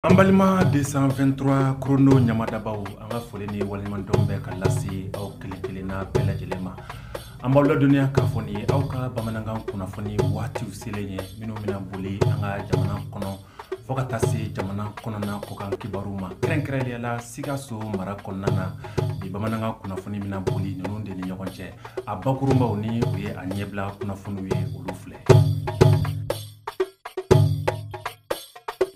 An balima 223 chrono ɲamadabaaw an ka foli ni waleɲumandɔn bɛ ka lase aw kelen kelen na bɛɛ lajɛlen ma. An b'aw ladɔnniya k'a fɔ nin ye aw ka bamanankan kunnafoni waatiw selen ye minnu bɛna boli an ka jamana kɔnɔ fo ka taa se jamana kɔnɔna kɔkan kibaruw ma kɛrɛnkɛrɛnnenya la Sikaso mara kɔnɔna na bi bamanankan kunnafoni bɛna boli ninnu de ni ɲɔgɔn cɛ a bakurunbaw ni o ye a ɲɛbila kunnafoniw ye olu filɛ.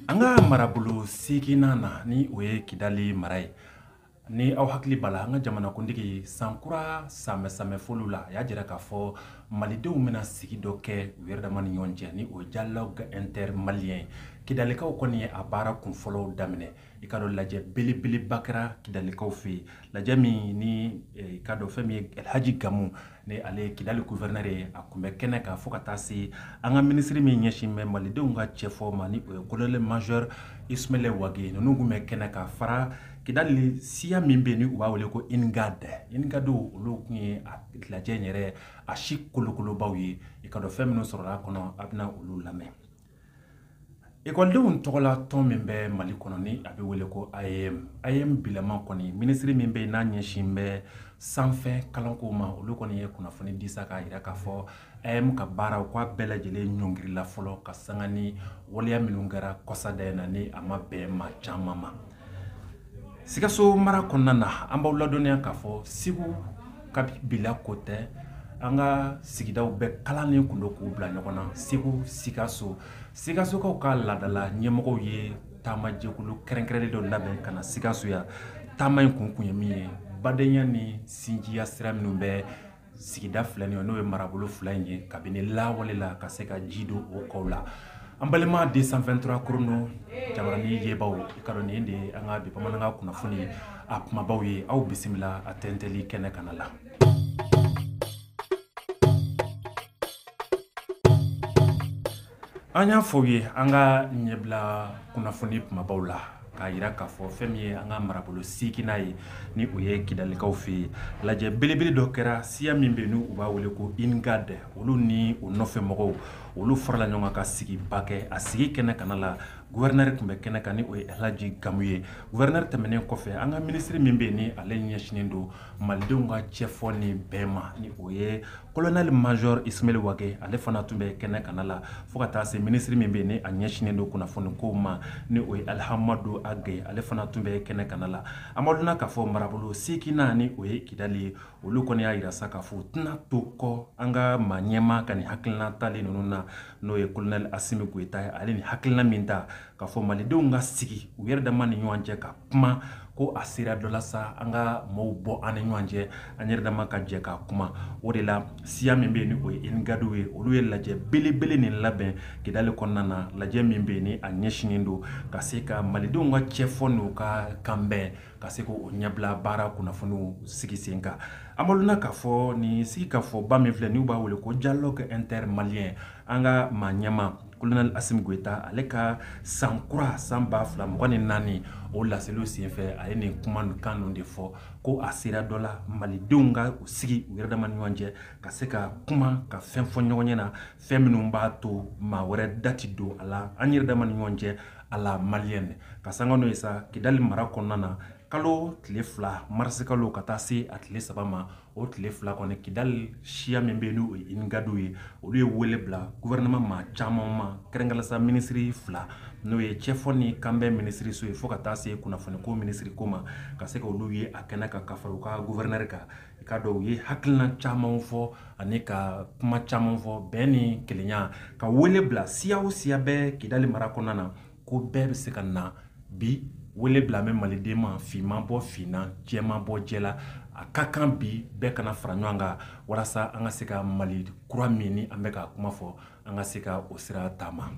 an ka marabolo seginnan na ni o ye kidali mara ye ni aw hakili b'a la an ka jamanakuntigi sankura sanbɛɛsanbɛɛfoliw la a y'a jira k'a fɔ malidenw bɛna sigi dɔ kɛ u yɛrɛ dama ni ɲɔgɔn cɛ ni o ye dialogue intermalien ye kidalikaw kɔni ye a baara kunfɔlɔw daminɛ i k'a dɔn lajɛ belebeleba kɛra kidalikaw fɛ yen lajɛ min ni eh, i k'a dɔn fɛn min ye alhaji gamu ni ale ye kidali guvɛrnɛrɛ ye a tun bɛ kɛnɛ kan fo ka taa se an ka minisiri min ɲɛsin bɛ malidenw ka cɛfɔ ma ni o ye kolonɛli major ismail wage ninnu tun bɛ kɛnɛ ka fara kidali siya min bɛ yen ni u b'a wele ko ingad ingad olu tun ye a lajɛ in yɛrɛ a sigi kolokolobaw ye i k'a dɔn fɛn minnu sɔrɔla a kɔnɔ aw bɛna olu lamɛn ekɔlidenw tɔgɔ la tɔn min bɛ mali kɔnɔ ni a bɛ wele ko AEEM AEEM bilama kɔni minisiri min bɛ yen n'a ɲɛsin bɛ sanfɛ kalanko ma olu kɔni ye kunnafoni di sa k'a jira k'a fɔ AEEM ka baara u k'a bɛɛ lajɛlen ɲɔngirila fɔlɔ ka sanga ni waleya minnu kɛra kɔsada in na ni a ma bɛn maa caman ma sikaso mara kɔnɔna na an b'aw ladɔnniya k'a fɔ segu ka bila ko tɛ an ka sigidaw bɛɛ kalannen kun don k'u bila ɲɔgɔn na segu sikaso sikasokaw ka laadala ɲɛmɔgɔw ye taamajɛkulu kɛrɛnkɛrɛnnen dɔ labɛn ka na sikaso yan taama in kun kun ye min ye badenya ni sinjiya sira minnu bɛ sigida fila nin ye n'o ye marabolo fila in ye kabini lawale la ka se ka ji don o kɔw la an balima 223 chrono jabaranin yebaw i k'a dɔn nin de ye an ka bi bamanankan kunnafoni a kumabaw ye aw bisimila a tɛntɛli kɛnɛ kana la an y'a fɔ aw ye an ka ɲɛbila kunnafoni kumabaw la k'a jira k'a fɔ fɛn min ye an ka marabolo seginnan ye ni o ye kidalikaw fɛ yen lajɛ belebele dɔ kɛra siya min bɛ n'u b'a wele ko ingad olu ni u nɔfɛ mɔgɔw olu farala ɲɔgɔn ka sigiba kɛ a sigi kɛnɛ kana la guvɛrnɛrɛ tun bɛ kɛnɛ kan ni o ye alhaji gamu ye guvɛrnɛrɛ tɛmɛnen kɔfɛ an ka minisiri min bɛ yen ni ale ɲɛsinnen don malidenw ka cɛfɔ ni bɛn ma ni o ye kolonɛli major ismail wage ale fana tun bɛ kɛnɛ kana la fo ka taa se minisiri min bɛ ni a ɲɛsinen don kunnafoni kow ma ni o ye alihamadu ag ye ale fana tun bɛ kɛnɛ kana la amaduna k'a fɔ marabolo seginnan ni o ye kidali ye olu kɔni y'a yira sa k'a fɔ u tɛna to kɔ an ka maa ɲɛmaa ka nin hakilina talen ninnu na n'o ye kolonɛli asimi goyita ye ale ni hakilina min ta k'a fɔ malidenw ka sigi u yɛrɛ dama ni ɲɔgɔn cɛ ka kuma ko a sera dɔ la sa an ka maaw bɔ an ni ɲɔgɔn cɛ an yɛrɛ dama ka jɛ ka kuma o de la siya min bɛ yen ni o ye inigadiw ye olu ye lajɛ belebele nin labɛn kidali kɔnɔna na lajɛ min bɛ yen ni a ɲɛsinnen don ka se ka malidenw ka cɛfɔ n'u ka kanbɛn ka se k'o ɲɛbila baara kunnafoniw sigi sen kan an b'a lɔn k'a fɔ nin sigikafɔba min filɛ n'u b'a wele ko dialogue intermalien an ka maa ɲɛma kolonɛli asimi goyita ale ka san kura san ba fila mugan ni naani o laseliw senfɛ a ye nin kumakan ninnu de fɔ ko a sera dɔ la malidenw ka u sigi u yɛrɛ dama ni ɲɔgɔn cɛ ka se ka kuma ka fɛn fɔ ɲɔgɔn ɲɛ na fɛn minnu b'a to maa wɛrɛ da tɛ don a la an yɛrɛ dama ni ɲɔgɔn cɛ à la malienne ka sanga n'o ye sa kidali mara kɔnɔna na kalo tile fila marisikalo ka taa se a tile saba ma o tile fila kɔni kidali siya min bɛ n'o ye inigadiw ye olu ye wele bila gouvernement maa caman ma kɛrɛnkɛrɛnnenya minisiri fila n'o ye cɛfɔ ni kanbɛn minisiriso ye fo ka taa se kunnafoniko minisiri ko ma ka se ka olu ye a kɛnɛ kan ka fara u ka gouverneur kan i k'a dɔn u ye hakilina caman fɔ ani ka kuma caman fɔ bɛn ni kelenya ka wele bila siya o siya bɛ kidali mara kɔnɔna na ko bɛɛ bɛ se ka na bi wele bilalen bɛ maliden ma finman bɔ fin na jɛman bɔ jɛ la a ka kan bi bɛɛ ka na fara ɲɔgɔn kan walasa an ka se ka mali kura min ni an bɛ k'a kuma fɔ an ka se ka o sira taama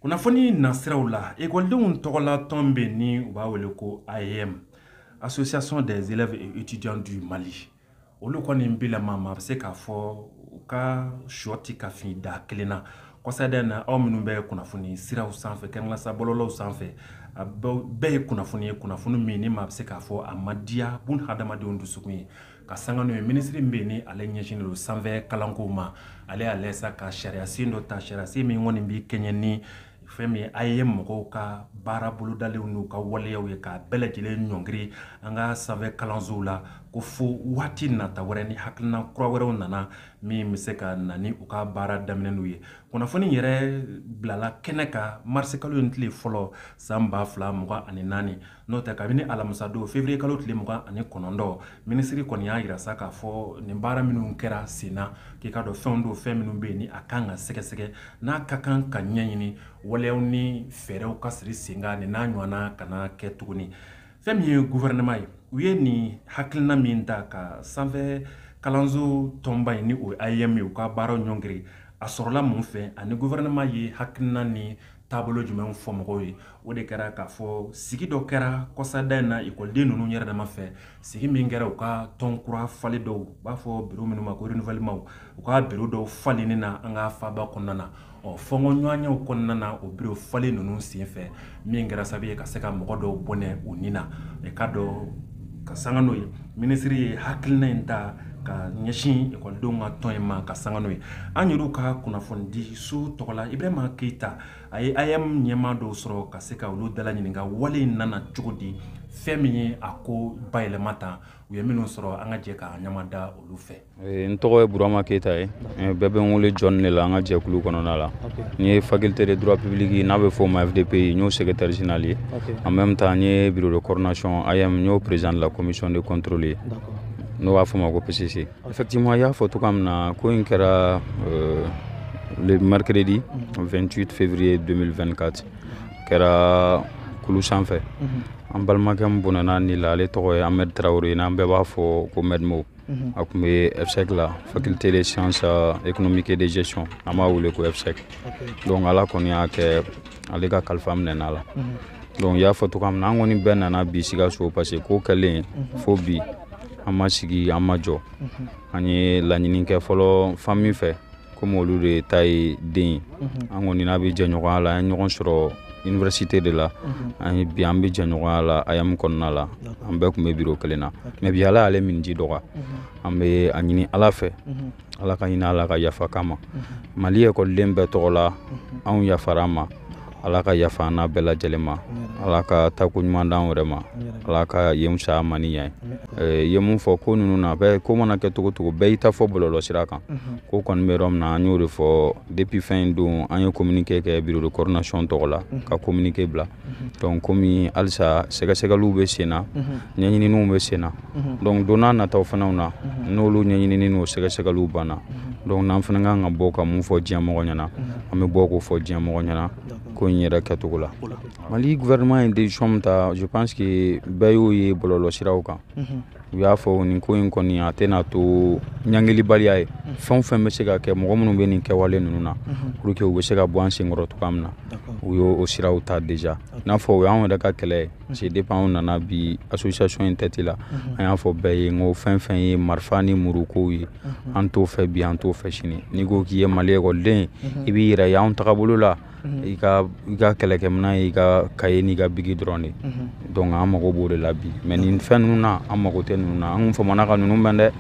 kunnafoni nasiraw la ekɔlidenw tɔgɔla tɔn bɛ ni u b'a wele ko AEEM association des élèves et étudiants du mali olu kɔni bilama maa bɛ se k'a fɔ u ka shɔ tɛ ka fin daa kelen na kɔsada in na aw minnu bɛ kunnafoni siraw sanfɛ kɛrɛnkɛrɛnnenya la sa bɔlɔlɔw sanfɛ a bɛɛ ye kunnafoni ye kunnafoni min ni maa bɛ se k'a fɔ a ma diya bunhadamadenw dusukun ye ka sanga n'o ye minisiri bɛ yen ni ale ɲɛsinnen don sanfɛ kalanko ma ale y'a lajɛ sa ka sariyasen dɔ ta sariyasen min kɔni bɛ kɛɲɛ ni fɛn min AEEM mɔgɔw ka baara bolodalenw n'u ka waleyaw ye k'a bɛɛ lajɛlen ɲɔngiri an ka sanfɛ kalansow la ko fo waati nata wɛrɛ ni hakilina kura wɛrɛw nana min bɛ se ka na ni u ka baara daminɛni ye kunnafoni yɛrɛ bilala kɛnɛ kan marisikalo in tile fɔlɔ san ba fila mugan ani naani n'o tɛ kabini alamisadon fevriye kalo tile mugan ani kɔnɔntɔn minisiri kɔni y'a yira sa k'a fɔ nin baara minnu kɛra sen na k'i k'a dɔn fɛnw don fɛn minnu bɛ yen ni a ka kan ka sɛgɛsɛgɛ n'a ka kan ka ɲɛɲini waleyaw ni fɛɛrɛw ka siri sen kan nin n'a ɲɔgɔnna kana kɛ tuguni fɛn min ye guvɛrɛnɛma ye u ye nin hakilina min ta ka sanfɛ kalanso tɔnba in ni o ye AEEM ye u ka baaraw ɲɔngiri a sɔrɔla mun fɛ ani guvɛrɛnɛma ye hakilina ni taabolo jumɛnw fɔ mɔgɔw ye o de kɛra k'a fɔ sigi dɔ kɛra kɔsada in na ekɔliden ninnu yɛrɛ dama fɛ sigi min kɛra u ka tɔn kura falen dɔw u b'a fɔ biro minnu ma ko renouvellement u ka biro dɔw falenni na an ka faaba kɔnɔna na ɔ fɔnkɔɲɔgɔnyew kɔnɔna na o biro falen ninnu senfɛ min kɛra sababu ye ka se ka mɔgɔ dɔw bɔnɛ u ni na i k'a dɔn ka sanga n'o ye Minisiri ye hakilina in ta ka ɲɛsin ekɔlidenw ka tɔn in ma ka sanga n'o ye an yɛrɛ ka kunnafonidi so tɔgɔ la ibrahima keyita a ye AEEM ɲɛmaa dɔw sɔrɔ ka se ka olu dalaɲininka wale in nana cogo di fɛn min ye a ko bayɛlɛma tan u ye minnu sɔrɔ an ka jɛ k'an ɲama da olu fɛ Eh, n tɔgɔ ye burama keyita ye eh, bɛɛ bɛ n wele jɔni de la an ka jɛkulu kɔnɔna la n ye faculté de droit public n'a bɛ fɔ o ma fdp n y'o secrétaire général ye en même temps n ye bureau de coordination AEEM n y'o président de la commission de contrôle ye n'o b'a fɔ ma ko pcc effectivement y'a fɔ cogoya min na ko in kɛra euh, le mercredi 28 mhm. février 2024 kɛra kulu sanfɛ mhm. an balimakɛ min bɔnɛn'a ni la ale tɔgɔ ye amɛd tarawele n'an bɛɛ b'a fɔ ko mɛdmo Mhm. a tun bɛ FSEG la faculté de sciences euh, économiques et de gestion an b'a wele ko FSEG donc ala kɔni y'a kɛ ale ka kalifa minɛna a la mhm. donc y'a fɔ cogoya min na an kɔni bɛɛ nana bi Sikaso parce que ko kɛlen mhm. fo bi an ma sigi an ma jɔ an ye laɲini kɛ fɔlɔ famille fɛ komi olu de ta ye den ye mhm. an kɔni n'a bɛ jɛɲɔgɔnya la an ye ɲɔgɔn sɔrɔ université de la mhm. ani bi an bɛ jɛɲɔgɔnya la AEEM kɔnɔna la an bɛɛ tun bɛ biro kelen na mais bi ala y'ale minji dɔgɔya mhm. an bɛ a ɲini ala fɛ ala ka hinɛ a la ka yafa k'a ma mali ekɔliden bɛɛ tɔgɔ la anw yafara a ma Ala ka yafa an n'a bɛɛ lajɛlen ma ala ka tako ɲuman d'an yɛrɛ ma ala ka yen fisaya ma ni yan ye mun fɔ ko ninnu na bɛ ko mana kɛ cogocogo bɛɛ y'i ta fɔ bɔlɔlɔ sira kan ko kɔni bɛ yɔrɔ min na an y'o de fɔ depuis fɛn in don an ye communiqué kɛ bureau de coordination tɔgɔ la ka communiqué bila donc kɔmi halisa sɛgɛsɛgɛliw bɛ sen na ɲɛɲininiw bɛ sen na Mhm. donc don nataw fanaw na mhm. n'olu ɲɛɲinini n'o sɛgɛsɛgɛliw banna mhm. donc n'an fana kan ka bɔ ka min fɔ diɲɛ mɔgɔ ɲɛna an bɛ bɔ k'o fɔ diɲɛ mɔgɔ ɲɛna ko in yɛrɛ kɛcogo la mali gouvernement ye decision min ta je pense que bɛɛ y'o ye bɔlɔlɔ siraw kan u y'a fɔ nin ko in kɔni a tɛna to ɲangilibaliya ye fɛn o fɛn bɛ se ka kɛ mɔgɔ minnu bɛ nin kɛwale ninnu na pour que u bɛ se ka bɔ an senkɔrɔ cogoya min na u y'o siraw ta déjà i n'a fɔ o y'anw yɛrɛ ka kɛlɛ ye parce que depuis anw nana bi association in tɛti la an y'a fɔ bɛɛ ye n ko fɛn o fɛn ye marifa ni murukow ye an t'o fɛ bi an t'o fɛ sini n'i ko k'i ye mali ekɔliden i b'i yɛrɛ ye anw tagabolo la i ka i ka kɛlɛkɛminɛn y'i ka kaye n'i ka biki dɔrɔn de donc an mago b'o de la bi mais nin fɛn ninnu na an mago tɛ ninnu na an kun famana ka ninnu mɛn dɛ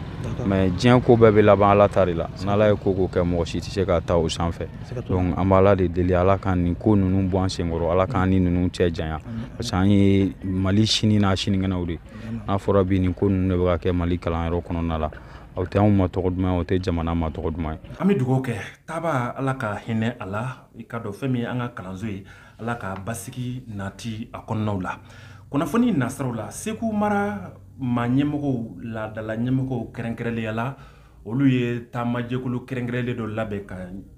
mais diɲɛ ko bɛɛ bɛ laban ala ta de la n'ala ye ko o ko kɛ mɔgɔ si tɛ se ka ta o sanfɛ Donc an bɛ Ala de deli Ala ka nin ko ninnu bɔ an senkɔrɔ Ala k'an ni ninnu cɛ janya parce que an ye Mali sini n'a sinikɛnɛw de ye n'a fɔra bi nin ko ninnu de bɛ ka kɛ Mali kalanyɔrɔ kɔnɔna la a tɛ anw ma tɔgɔ duman ye a tɛ jamana ma tɔgɔ duman ye. An bɛ dugawu kɛ taabaa Ala ka hinɛ a la i k'a dɔn fɛn min ye an ka kalanso ye Ala ka basigi nati a kɔnɔnaw la kunnafoni nasiraw la Segu mara maaɲɛmɔgɔw laadalaɲɛmɔgɔw kɛrɛnkɛrɛnnenya la olu ye taamajɛkulu kɛrɛnkɛrɛnlen dɔ labɛn ka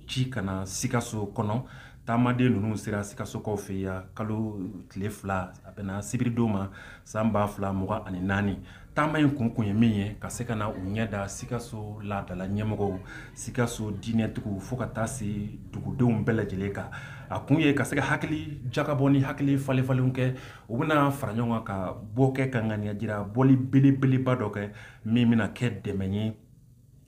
ci ka na sikaso kɔnɔ taamaden ninnu sera sikasokaw fɛ yan kalo tile fila a bɛnna sibiridon ma san ba fila mugan ani naani taama in kun kun ye min ye ka se ka na u ɲɛ da sikaso laadala ɲɛmɔgɔw sikaso diinɛtigiw fo ka taa se dugudenw bɛɛ lajɛlen kan a kun ye ka se ka hakili jakabɔ ni hakili falenfalenw kɛ u bɛna fara ɲɔgɔn kan ka bɔ kɛ ka ŋaniya jira bɔli belebeleba dɔ kɛ min bɛna kɛ dɛmɛ ye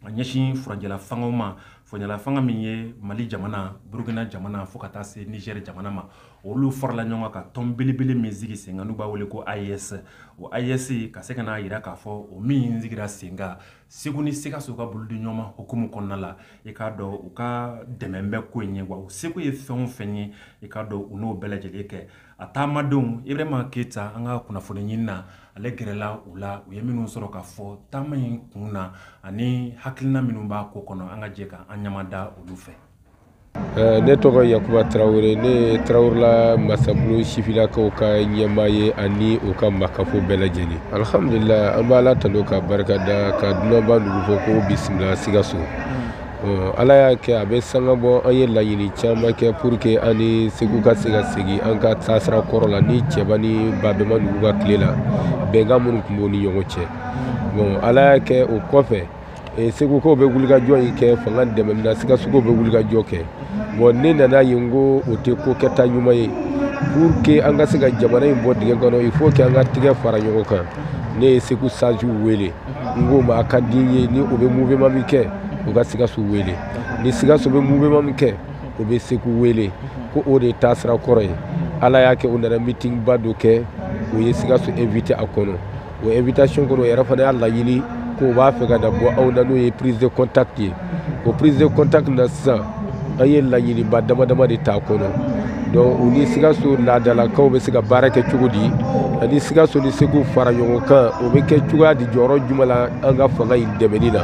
a ɲɛsin furancɛla fangaw ma furancɛla fanga min ye mali jamana burukina jamana fo ka taa se nizɛri jamana ma olu farala ɲɔgɔn kan ka tɔn belebele min sigi senkan n'u b'a wele ko AES o AES ka se ka n'a jira k'a fɔ o min sigira senkan segu ni sikaso ka bolodiɲɔgɔnma hukumu kɔnɔna la i k'a dɔn u ka dɛmɛ bɛ ko in ye wa u seko ye fɛn o fɛn ye i k'a dɔn u n'o bɛɛ lajɛlen kɛ A taamadenw Ibirahima Keyita an ka kunnafoniɲinina ale gɛrɛla u la u ye minnu sɔrɔ k'a fɔ taama in kun na ani hakilina minnu b'a ko kɔnɔ an ka jɛ ka an ɲɛmada olu fɛ. Eh, ne tɔgɔ yakuba tarawele ne ye tarawelela masabulon sifilakaw ka ɲɛmaa ye ani u ka makafo bɛɛ lajɛlen alihamdulila an b'ala tanu k'a barika da ka dunanba nugu fo k'o bisimila sikaso ala y'a kɛ a bɛ sanga bɔ an ye laɲini caman kɛ pour que an ni segu ka se ka segin an ka taasira kɔrɔ la ni cɛba ni babɛma ninnu ka tile la bɛnkan minnu tun b'o ni ɲɔgɔn cɛ bon ala y'a kɛ o kɔfɛ eh, segukaw bɛ wulikajɔ in kɛ fanga dɛmɛni na sikasokaw bɛ wulikajɔ kɛ bon ne nan'a ye n ko o tɛ ko kɛta ɲuman ye pour que an ka se ka jamana in bɔ dingɛ kɔnɔ il faut que an ka tigɛ fara ɲɔgɔn kan ne ye segu sagew wele n k'o ma a ka di n ye ni o bɛ mouvement min kɛ u ka sikaso wele ni sikaso bɛ mouvement min kɛ o bɛ segu wele ko o de ye taasira kɔrɔ ye ala y'a kɛ u nana meeting ba dɔ kɛ o ye sikaso invité a kɔnɔ o invitation kɔnɔ o yɛrɛ fana y'a laɲini k'o b'a fɛ ka na bɔ anw na n'o ye prise de contact ye o prise de contact na sisan an ye laɲiniba damadama de t'a kɔnɔ donc u ni sikaso laadalakaw bɛ se ka baara kɛ cogo di ani sikaso ni segu fara ɲɔgɔn kan o bɛ kɛ cogoya di jɔyɔrɔ jumɛn la an ka fanga in dɛmɛni na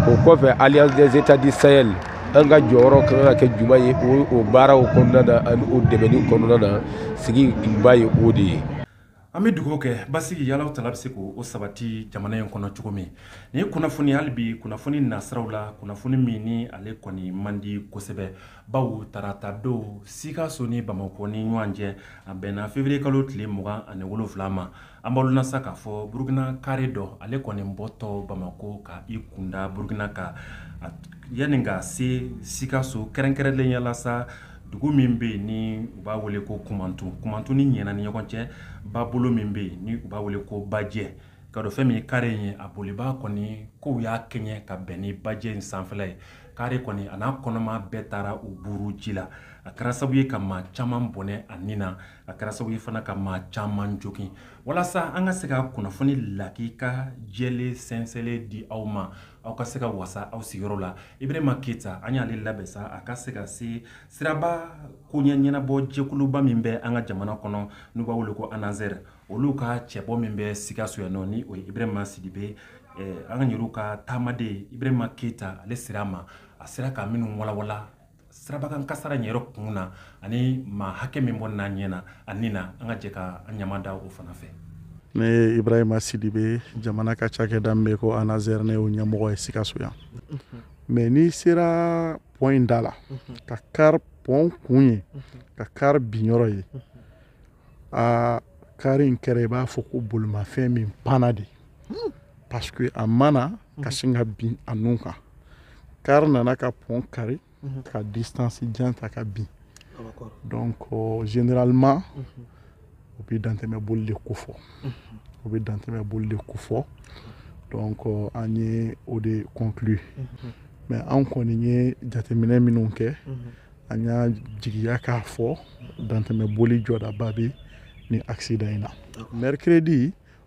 o kɔfɛ alliance des états du sahel an ka jɔyɔrɔ ka kan ka kɛ jumɛn ye o baaraw kɔnɔna na ani o dɛmɛni kɔnɔna na sigi kunba ye o de ye an bɛ dugawu kɛ basigi ya ala taala bɛ se k'o sabati jamana in kɔnɔ cogo min ni ye kunnafoni hali bi kunnafoni nasiraw la kunnafoni min ni ale kɔni man di kosɛbɛ bawo tarata don sikaso ni bamakɔ ni ɲɔgɔn cɛ a bɛnna feburuye kalo tile mugan ani wolonfila ma an b'aw sa k'a fɔ burukina kare dɔ ale kɔni bɔtɔ bamakɔ ka i kunda burukina kan yanni ka se sikaso kɛrɛnkɛrɛnlenya la sa dugu min bɛ yen ni u b'a wele ko kumantu kumantu ni ɲɛna ni ɲɔgɔn cɛ babolo min bɛ yen ni u b'a wele ko bajɛ ka dɔ fɛn min ye kare in ye a bolibaa kɔni kow y'a kɛɲɛ ka bɛn ni bajɛ in sanfɛla ye kare kɔni a n'a kɔnɔma bɛɛ taara u buru ji la a kɛra sabu ye ka maa caman bɔnɛ a ni na a kɛra sabu ye fana ka maa caman jogin walasa an ka se ka kunnafoni lakika jɛlen sɛnsɛnlen di aw ma aw ka se ka wasa aw sigiyɔrɔ la ibrahima keyita an y'ale labɛn sa a ka se ka se siraba koɲɛ ɲɛnabɔ jɛkuluba min bɛ an ka jamana kɔnɔ n'u b'a wele ko anazɛrɛ olu ka cɛbɔ min bɛ sikaso yan nɔ ni o ye ibrahima sidibe eh, an ka yɛrɛw ka taamaden ibrahima keyita ale sera a ma a sera ka minnu walawala sirabakan kasara in yɛrɛ kun na ani maa hakɛ min bɔnɛna a ni na an ka jɛ ka an ɲɛmada o fana fɛ ne ye ibrahima sidibe jamana ka cakɛda min bɛ ko anazɛr ne y'o ɲɛmɔgɔ ye sikaso yan mais mhm. n'i sera pɔn in da la mhm. ka kari pɔn kun ye mhm. ka kari binyɔrɔ ye a kari in kɛra i b'a fɔ ko bolimafɛn min panna de parce que a ma na ka sin ka bin a nun kan kari nana ka pɔn kari ka distance jan ta ka bin donc euh, généralement o bɛ dantɛmɛ boli de kofɔ o bɛ dantɛmɛ boli de kofɔ donc euh, an ye o de conclu mais an kɔni ye jateminɛ minnu kɛ an y'a jigiya k'a fɔ dantɛmɛ boli jɔdaba bɛ nin accident in na mercredi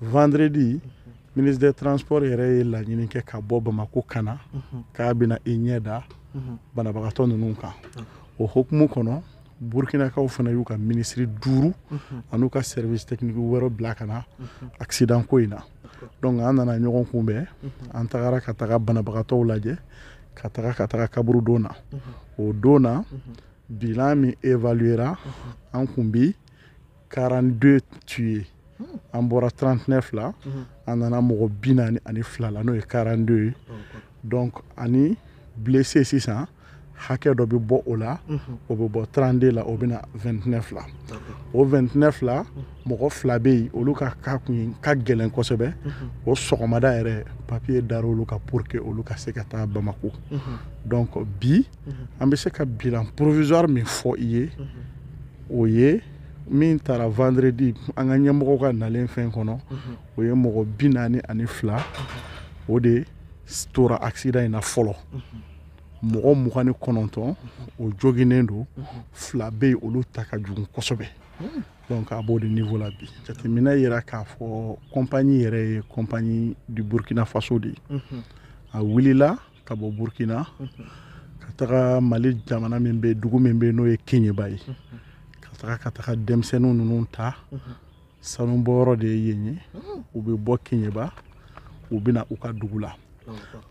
vendredi ministre des transports yɛrɛ ye laɲini kɛ ka bɔ bamako ka na k'a bɛna i ɲɛ da banabagatɔ ninnu kan o hokumu kɔnɔ burkinakaw fana y'u ka minisiri duuru an'u ka service technique wɛrɛ bila ka na accident ko in na donc an nana ɲɔgɔn kunbɛn an tagara ka taga banabagatɔw lajɛ ka taga ka taga kaburu don na o don na bilan min évaluera an kun bi 42 tués hmm. an bɔra 39 la hmm. an nana mɔgɔ bi naani ani fila la n'o ye 42 ye donc ani blessé sisan hakɛ dɔ bɛ bɔ o la hmm. o bɛ bɔ 32 la o bɛ na 29 la o 29 la mɔgɔ fila bɛ yen olu ka cas kun ka gɛlɛn kosɛbɛ o sɔgɔmada yɛrɛ papiye dara olu ka pour que olu ka se ka taa Bamako donc bi an bɛ se ka bilan provisoire min fɔ i ye o ye min taara vendredi an ka ɲɛmɔgɔw ka nalen fɛn kɔnɔ mhm. o ye mɔgɔ bi naani ani fila mhm. o de tora accident in na fɔlɔ mhm. mɔgɔ mugan ni kɔnɔntɔn o joginnen don fila bɛ yen olu ta ka jugu kosɛbɛ hmm. donc a b'o de niveau la bi jateminɛ y'a yira k'a fɔ compagnie yɛrɛ ye compagnie du burkina faso de ye a wulila ka bɔ burkina ka taga mali jamana min bɛ dugu min bɛ n'o ye keɲeba ye ka taga ka taga denmisɛnninw ninnu ta sanubɔyɔrɔ de ye yen ye u bɛ bɔ keɲeba u bɛ na u ka dugu la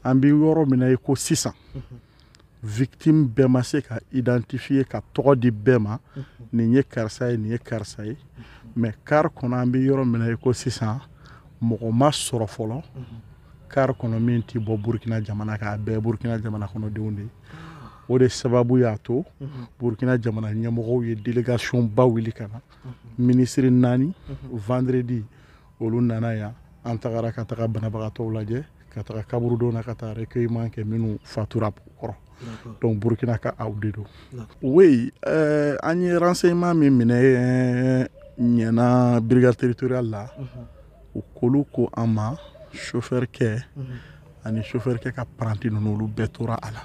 an bɛ yɔrɔ min na i ko sisan victime bɛɛ ma se ka identifier ka tɔgɔ di bɛɛ ma nin ye karisa ye nin ye karisa ye mais car kɔnɔ an bɛ yɔrɔ min na i ko sisan mɔgɔ ma sɔrɔ fɔlɔ car kɔnɔ min tɛ bɔ burkina jamana kan a bɛɛ burkina jamana kɔnɔdenw de ye o de sababu y'a to burkina jamana ɲɛmɔgɔw ye délégation ba wuli ka na minisiri naani vendredi olu nana yan an tagara ka taga banabagatɔw lajɛ ka taga kaburudo na ka taa recueillement kɛ minnu fatura kɔrɔ donc burkinakaw de don oui euh, an ye renseignement min minɛ ɲɛna brigade territoriale la u ko olu ko an ma sofɛrikɛ mhm. ani sofɛrikɛ ka paranti ninnu olu bɛɛ tora a la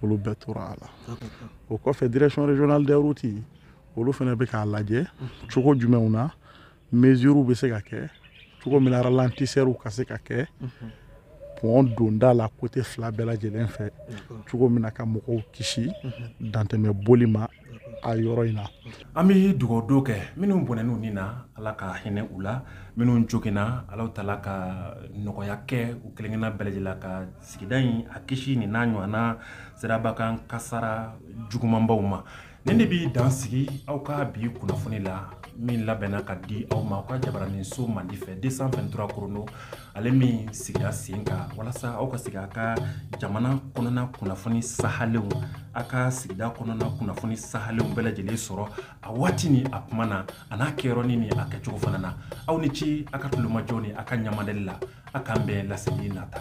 olu bɛɛ tora a la o kɔfɛ direction régionale des routes olu fana bɛ k'a lajɛ mhm. cogo jumɛnw na mesures bɛ se ka kɛ cogo min na ralentisseurs ka se ka kɛ mhm. pɔn donda la côté fila bɛɛ lajɛlen fɛ cogo min na ka mɔgɔw kisi dantɛmɛ boli ma a yɔrɔ in na an bɛ dugawudon kɛ minnu bɔnɛn'u ni na ala ka hinɛ u la minnu joginna ala taala ka nɔgɔya kɛ u kelenkelenna bɛɛ lajɛlen ka sigida in a kisi nin n'a ɲɔgɔnna siraba kan kasara jugumanbaw ma nin de bɛ dan sigi aw ka bi kunnafoni la min labɛnna ka di aw ma aw ka jabaraninso mandi fɛ deux cent vingt-trois korondo ale min sigira sen kan walasa aw ka se k'a ka jamana kɔnɔna kunnafoni sahalenw a ka sigida kɔnɔna kunnafoni sahalenw bɛɛ lajɛlen sɔrɔ a waati ni a kuma na a n'a kɛyɔrɔni ni a kɛcogo fana na aw ni ce a ka tulomajɔ ni a ka ɲɛmadali la a k'an bɛn laseli nata